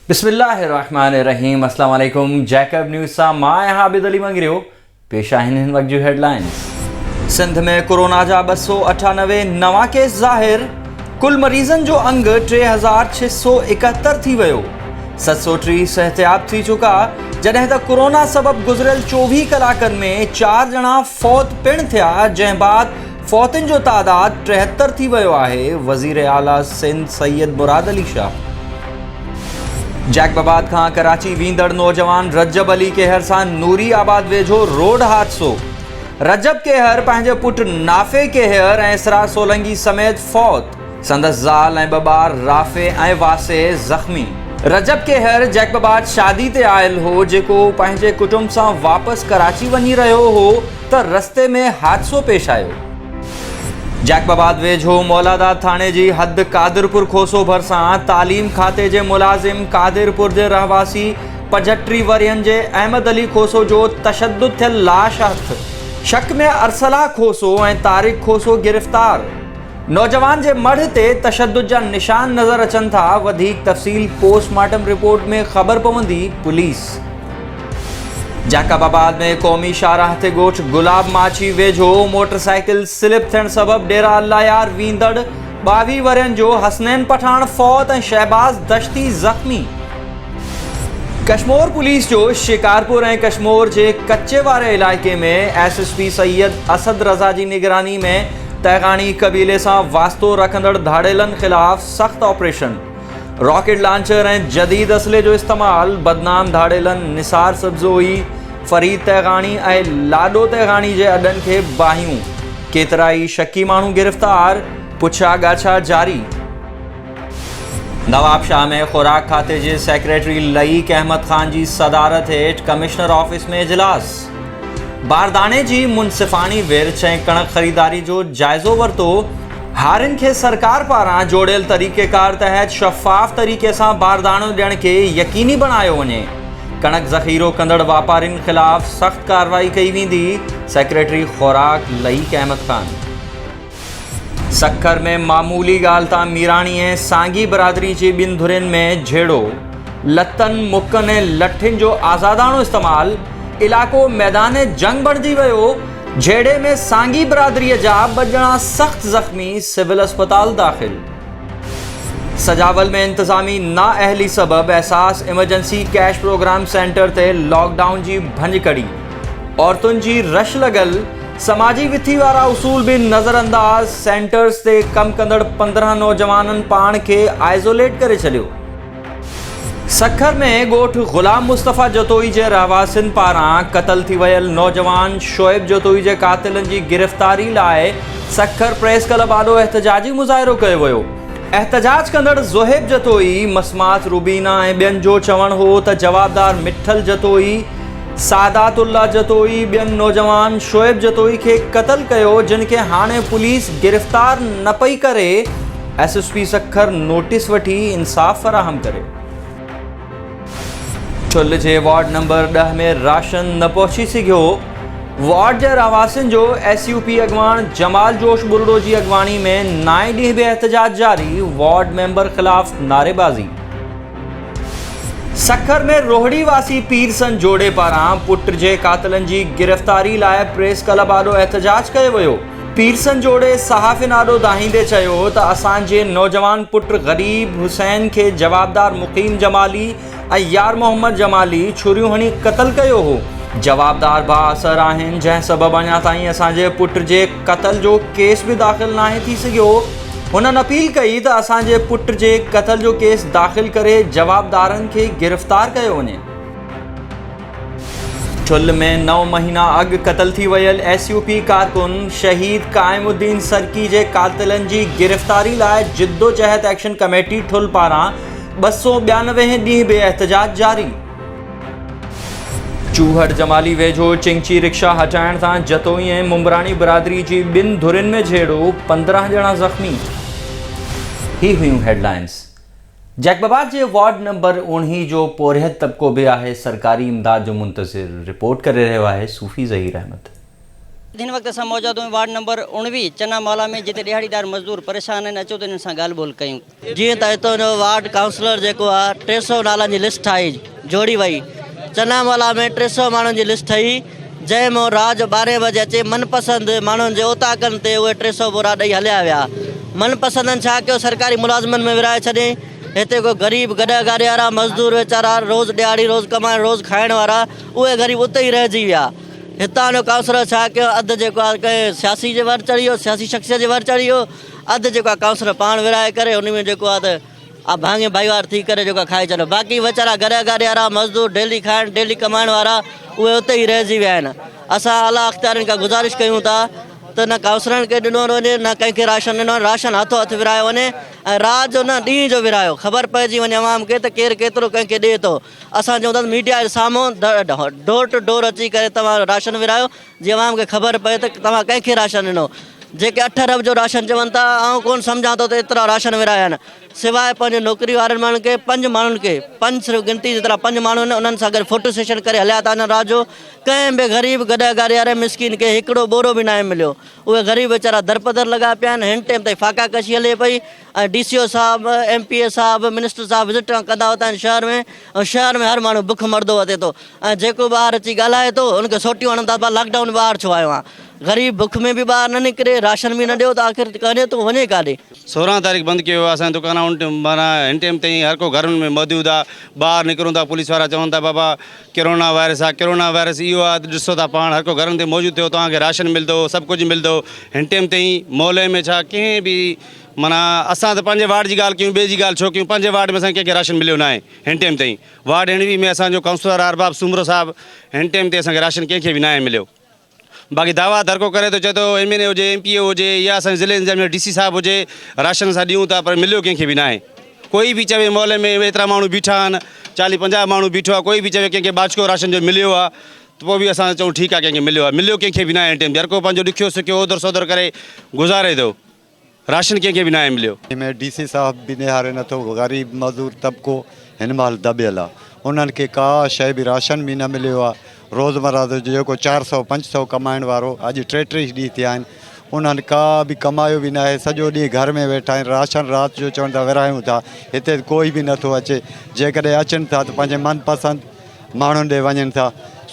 بسم الله الرحمن الرحيم السلام عليڪم جيڪب نيوز سان مان آهيان عابد علي مڱريو پيش آهن هن وقت جون هيڊلائنز سنڌ ۾ ڪورونا جا ٻه سؤ اٺانوي نوان ڪيس ظاهر ڪل مريضن جو انگ ٽي هزار ڇهه سؤ ايڪهتر ٿي ويو، ست سؤ ٽيهه صحتياب ٿي چڪا، جڏهن ته ڪورونا سبب گذريل چوويهه ڪلاڪن ۾ چار ڄڻا فوت پڻ ٿيا، جنهن بعد فوتن جو تعداد ٽيهتر ٿي ويو آهي، وزير اعليٰ سنڌ سيد مراد علي شاهه. جيڪب آباد کان ڪراچي ويندڙ نوجوان رجب علي ڪيهر سان نوري آباد ويجهو روڊ حادثو. رجب ڪيهر پنهنجي پٽ نافع ڪيهر ۽ اسرار سولنگي سميت فوت، سندس زال ۽ ٻه ٻار رافع ۽ واسع زخمي. رجب ڪيهر جيڪباباد شادي تي آيل هو، جيڪو پنهنجي ڪٽنب سان واپس ڪراچي وڃي رهيو هو ته رستي ۾ حادثو پيش آيو. جيڪباباد ويجهو مولاداد ٿاڻي جي حد قادرپور کوسو ڀرسان تعليم کاتي جي ملازم قادرپور جي رهواسي پنجهٽري ورهين جي احمد علي کوسو جو تشدد ٿيل لاش هٿ، شڪ ۾ ارسلا کوسو ۽ طارق کوسو گرفتار، نوجوان جي مڙهه تي تشدد جا نشان نظر اچن ٿا، وڌيڪ تفصيل پوسٽ مارٽم رپورٽ ۾ خبر پوندي، پوليس. جاڪب آباد ۾ قومي شاهراهه تي ڳوٺ گلاب ماڇي ويجهو موٽر سائيڪل سلپ ٿيڻ سبب ڊيرا الله يار ويندڙ ٻاويهه ورهين جو حسنين پٺاڻ فوت ۽ شهباز دشتي زخمي، ڪشمور پوليس جو شڪارپور ۽ ڪشمور جي ڪچي واري علائقي ۾ S S P Syed Asad Raza جي نگراني ۾ تيغاڻي قبيلي سان واسطو رکندڙ ڌاڙيلن خلاف سخت آپريشن، راڪيٽ لانچر ۽ جديد اسلحي جو استعمال، بدنام ڌاڙيلن نثار سبزوئي، فريد تيغاڻي ۽ لاڏو تيغاڻي جي اڏن کي باهيون، ڪيترائي شڪي ماڻهو گرفتار، پڇا ڳاڇا جاري. نوابشاهه ۾ خوراڪ کاتي جي سيڪريٽري لئيق احمد خان جي صدارت هيٺ ڪمشنر آفيس ۾ اجلاس، بارداڻي جي منصفاڻي ورڇ ۽ ڪڻڪ خريداري جو جائزو ورتو، هارين کي سرڪار پاران جوڙيل طريقيڪار تحت شفاف طريقي سان بارداڻو ڏيڻ کي يقيني بڻايو وڃي، ڪڻڪ ذخيرو ڪندڙ واپارين خلاف سخت ڪارروائي ڪئي ويندي، سيڪريٽري خوراڪ لئيق احمد خان. سکر ۾ معمولي ڳالهه تان ميراڻي ۽ سانگي برادري جي ٻن ڌرين ۾ جهيڙو، لتن، مڪن ۽ لٺين جو آزاداڻو استعمال، علائقو ميدان جنگ بڻجي ويو، جهيڙي ۾ سانگي برادري جا ٻه ڄڻا سخت زخمي سول اسپتال داخل. سجاول ۾ انتظامي نااهلي سبب Ehsaas emergency cash programme centre تي لاڪ ڊائون جي ڀڃڪڙي، عورتن جي رش لڳل سماجي وٿي وارا اصول به نظر انداز، سينٽرز تي ڪم ڪندڙ پندرهن نوجوانن پاڻ کي آئزوليٽ ڪري ڇڏيو. سکر ۾ ڳوٺ غلام مصطفيٰ جتوئي جي رهواسين پاران قتل ٿي ويل نوجوان شعيب جتوئي جي قاتلن جي گرفتاري لاء سکر پريس ڪلب آڏو احتجاجي مظاهرو ڪيو ويو، احتجاج ڪندڙ زوهيب جتوئي، مسمات روبينا ۽ ٻين جو چوڻ هو ته جوابدار مٺل جتوئي، سعادات الله جتوئي ٻين نوجوان شعيب جتوئي کي قتل ڪيو جن کي هاڻي پوليس گرفتار نه پئي ڪري S S P Sukkur notice وٺي انصاف فراهم ڪري ڇل جي وارڊ نمبر ڏهه ۾ راشن نه پهچي سگهيو وارڊ جي رهواسين جو ايس يو پي اڳواڻ جمال جوش ٻرڙو جي اڳواڻي ۾ نائين ڏينهن به احتجاج جاري وارڊ ميمبر خلاف نعريبازي سکر ۾ روهڙي واسي پير سن جوڙي پاران پٽ جي قاتلن جي گرفتاري لاء پريس ڪلب آڏو احتجاج ڪيو ويو، پير سن جوڙي صحافين آڏو دانهيندي چيو ته اسان جي نوجوان پٽ غريب حسين کي جوابدار مقيم جمالي ۽ يار محمد جمالي ڇريون هڻي قتل ڪيو هو، جوابدار بااثر آهن جنهن سبب اڃا تائين اسان جي پٽ جي قتل جو ڪيس به داخل ناهي ٿي سگهيو، هنن اپيل ڪئي ته اسان جي پٽ جي قتل جو ڪيس داخل ڪري جوابدارن کي گرفتار ڪيو وڃي. ٺل ۾ نو مهينا اڳ قتل ٿي ويل ايس يو پي ڪارڪن شهيد قائم الدين سرڪي جي قاتلن جي گرفتاري لاء جدوجهد ايڪشن ڪميٽي ٺل پاران ٻه سؤ ٻيانوي هين ڏينهن به احتجاج جاري. چوهر جمالي ويجهو چنگچي رڪشا هٽائڻ تان جتوئي ۽ ممبراڻي برادري جي ٻن ڌرين ۾ جهيڙو پندرهن ڄڻا زخمي هي هيون هيڊلائنز جيڪب آباد جي وارڊ نمبر اوڻهي جو پورهيت طبقو به آهي سرڪاري امداد جو منتظر رپورٽ ڪري رهيو آهي صوفي ظهير احمد. هن وقت اسان موجود آهيون وارڊ نمبر اوڻويهه چنا مالا ۾ جتي ڏيهاڙيدار مزدور پريشان آهن اچو ته انهن سان ڳالهه ٻولهه ڪيون. جيئن ته هتان جو وارڊ ڪائونسلر جيڪو آهي ٽي سؤ نالن جي لسٽ ٺاهي جوڙي وئي چنا مولا ۾ ٽي سؤ ماڻهن جي لسٽ ٺهي جنهن مون راڄ ٻارهين بجي اچي من پسند ماڻهن جي اوطاقن تي اهي ٽي سؤ ٻورا ڏئي هليا ويا من پسندن ڇا ڪيو سرڪاري ملازمن ۾ ورهائي ڇڏين هتي ڪو غريب گڏهه گاڏي وارا مزدور ويچارا روز ڏهاڙي روز ڪمائڻ روز کائڻ وارا اهي غريب اتي ئي رهجي ويا هتان جو ڪائونسلر ڇا ڪيو اڌ جيڪو آهي ڪنهن سياسي جي ور چڙهي ويو سياسي شخصيت جي ور چڙهي ويو اڌ جيڪو آ ڪائونسلر پاڻ ورهائي ڪري ان ۾ جيڪو آ ته آ ڀاڱي ڀائيوار ٿي ڪري جيڪو آ کائي ڇڏيو باقي ويچارا گهري اگهاڙي وارا مزدور ڊيلي کائڻ ڊيلي ڪمائڻ وارا اهي اتي ئي رهجي ويا آهن اسان اعليٰ اختيارين کان گذارش ڪيون ٿا ته نه ڪائونسلرن کي ڏنو وڃي نه ڪنهن کي راشن ڏنو راشن هٿو هٿ ورهايو وڃي ۽ رات جو نه ڏينهن جو ورهايو خبر پئجي وڃي عوام کي ته ڪير ڪيترو ڪنهن کي ڏئي ٿو اسان چون ٿا ته ميڊيا جي سامهون ڊور ٽو ڊور اچي ڪري تمام راشن ورهايو جي عوام کي خبر پئي ته توهان ڪنهن کي راشن ڏنو. جيڪي اٺ ارب جو راشن چون ٿا آئون ڪونه سمجهان ٿو ته ايترا راشن ورهايا آهن. سواء پنهنجي نوڪري وارن ماڻهن کي پنج ماڻهن کي پنج صرف گنتي جيترا پنج ماڻهو آهن انهن سان گڏ فوٽو سيشن ڪري هليا ٿا وڃن رات جو ڪنهن به غريب گڏهه گاري واري مسڪين کي هڪڙو ٻورو به ناهي مليو اهي غريب ويچارا درپدر لڳا پيا آهن هن ٽيم تائين فاقا ڪشي هلي پئي ڊي سي او صاحب، ايم پي اي صاحب، منسٽر صاحب وزٽ ڪندا هوندا آهن شهر ۾ ۽ شهر ۾ هر ماڻهو بک مردو وتي ٿو ۽ جيڪو ٻاهر اچي ڳالهائي ٿو ان کي سوٽيون هڻن ٿا ڀا لاڪ ڊائون ٻاهر ڇو آيو آهين غريب بک ۾ به ٻاهر نه نڪري راشن به نه ڏيو ته آخر ڪري ٿو وڃي ڪاڏي. سورهن تاريخ بند ڪيو ويو آهي اسان جا دڪان ان ٽيم معنيٰ هن ٽيم تائين هر ڪو گهرن ۾ موجود آهي ٻاهر نڪرون ٿا پوليس وارا چون ٿا بابا ڪرونا وائرس آهي ڪرونا وائرس اهو آهي ته ڏسو ٿا پاڻ هر ڪو گهرن تي موجود ٿيو توهان کي راشن ملندو سڀ ڪجهه ملندو هن ٽيم تائين محلي ۾ ڇا ڪنهن به معنيٰ اسان ته پنهنجي وارڊ جي ڳالهه ڪيون ٻئي جي ڳالهه ڇو ڪيون پنهنجي وارڊ ۾ اسان کي ڪنهن کي راشن مليو ناهي هن ٽيم تائين وارڊ هينڙوي ۾ اسان جو ڪائونسلر آهي ارباب سومرو صاحب هن ٽيم تي اسان کي راشن ڪنهن کي به ناهي مليو باقي دعويٰ هر ڪو ڪري ٿو چئي ٿو ايم اين اي هجي ايم پي اي هجي يا اسان ضلعي انتظاميه ڊي سي صاحب هجي راشن اسان ڏيون ٿا پر مليو ڪنهن کي به ناهي ڪوئي به چوي محلي ۾ ايترا ماڻهو بيٺا آهن چاليهه پنجاهه ماڻهو بيٺو آهي ڪوئي به چوي ڪنهن کي ٻاجھڪو راشن جو مليو آهي ته پوء به اسان چئون ٺيڪ آهي ڪنهن کي مليو آهي مليو ڪنهن کي به ناهي هن ٽيم تي هر ڪو پنهنجو ڏکيو سکيو اوڌر سوڌر ڪري گذاري ٿو راشن ڪنهن کي به ناهي مليو. جنهن ۾ ڊي سي صاحب به نهاري نٿو، غريب مزور طبقو هن مهل دٻيل آ، انهن کي ڪا شيء به راشن به نه مليو آ، روزمره جو جيڪو چار سؤ پنج سؤ ڪمائڻ وارو اڄ ٽي ٽيهه ڏينهن ٿيا آهن انهن ڪا به ڪمايو به ناهي سڄو ڏينهن گهر ۾ ويٺا آهن راشن رات جو چون ٿا ورهايون ٿا هتي ته ڪوئي به نٿو اچي جيڪڏهن اچن ٿا ته پنهنجي من پسند ماڻهن ڏي وڃن ٿا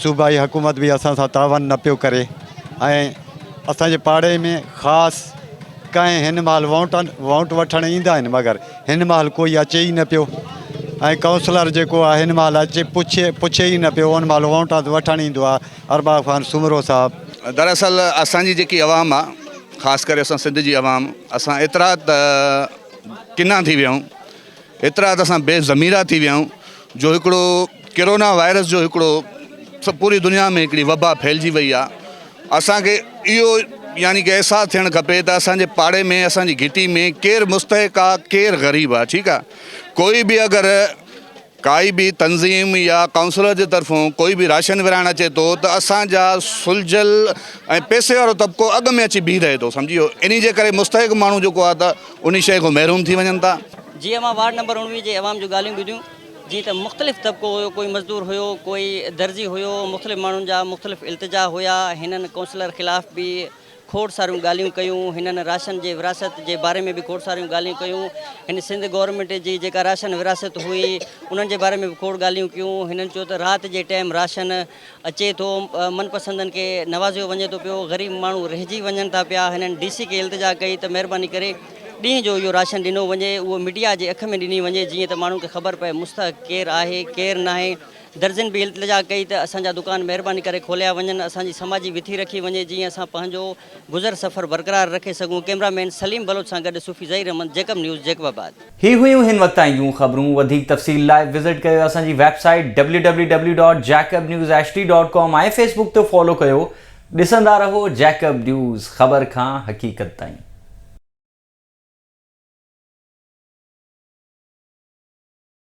صوبائي حڪومت به اسان سان تعاون نه پيو ڪري ۽ اسان جي پاڙي ۾ خاص ڪنهن هن مهل ووٽ ووٽ وٺڻ ايندا آهن مگر هن مهل ڪوئي اچي ئي نه پيو ۽ ڪائونسلر جيڪو آهي هن مهل اچي پڇي پڇي ئي نه پيو ان مهل ووٽ وٺڻ ايندو آهي ارباب خان سومرو صاحب دراصل اسان جي جيڪي عوام آ خاص ڪري اسان سنڌ جي عوام اسان ايترا ته ڪنا ٿي ويا آهيون ايترا ته اسان بي ضميرا ٿي ويا آهيون جو هڪڙو ڪرونا وائرس جو هڪڙو پوري دنيا ۾ هڪڙي وبا ڦهلجي وئي آهي اسان کي اهو يعني ڪي احساس ٿيڻ کپي ته اسان جي پاڙي ۾ اسان جي گهٽي ۾ ڪير مستحق آهي ڪير غريب آهي ٺيڪ آهي ڪوئي به اگر ڪائي به تنظيم يا ڪائونسلر جي طرفون ڪوئي به راشن ورهائڻ اچي ٿو ته اسان جا سلجهيل ۽ پيسي وارو طبقو اڳ ۾ اچي بيهي رهي ٿو سمجهي ويو انهي جي ڪري مستحق ماڻهو جيڪو آهي ته انهي شيء کان محروم ٿي وڃن ٿا. جي اوهان وارڊ نمبر اڻويهه جي عوام جون ڳالهيون ٻڌيون جي ته مختلف طبقو هيو ڪوئي مزدور هيو ڪوئي درزي هيو مختلف ماڻهن جا مختلف التجا هيا هنن ڪونسلر خلاف به کوڙ ساريون ڳالهيون ڪيون هنن راشن جي ورهاست جي باري ۾ به کوڙ ساريون ڳالهيون ڪيون هن سنڌ گورنمينٽ جي جيڪا راشن ورهاست هئي انهن جي باري ۾ به کوڙ ڳالهيون ڪيون هنن چيو ته رات جي ٽيم راشن اچي ٿو، من پسندن کي نوازيو وڃي ٿو پيو، غريب ماڻهو رهجي وڃن ٿا پيا، هنن ڊي سي کي التجا ڪئي ته مهرباني ڪري ڏينهن جو اهو راشن ڏنو وڃي، اهو ميڊيا جي اک ۾ ڏني وڃي جيئن ته ماڻهن کي خبر پئي مستحق ڪير آهي ڪير ناهي، درزين به التجا ڪئي ته اسان جا دڪان مهرباني ڪري کوليا وڃن، اسان جي سماجي وٿي رکي وڃي جيئن اسان پنهنجو گذر سفر برقرار رکي سگهون، ڪئميرا مين سليم بلوچ سان گڏ Sufi Zaheer Ahmed, Jacob news, Jacobabad. هي هيون هن وقت تائين جون خبرون وڌيڪ تفصيل لاء وزٽ ڪيو اسان جي website W W W dot Jacob news H D dot com ۽ Facebook تي فالو ڪيو ڏسندا رهو جيڪب نيوز خبر کان حقيقت تائين.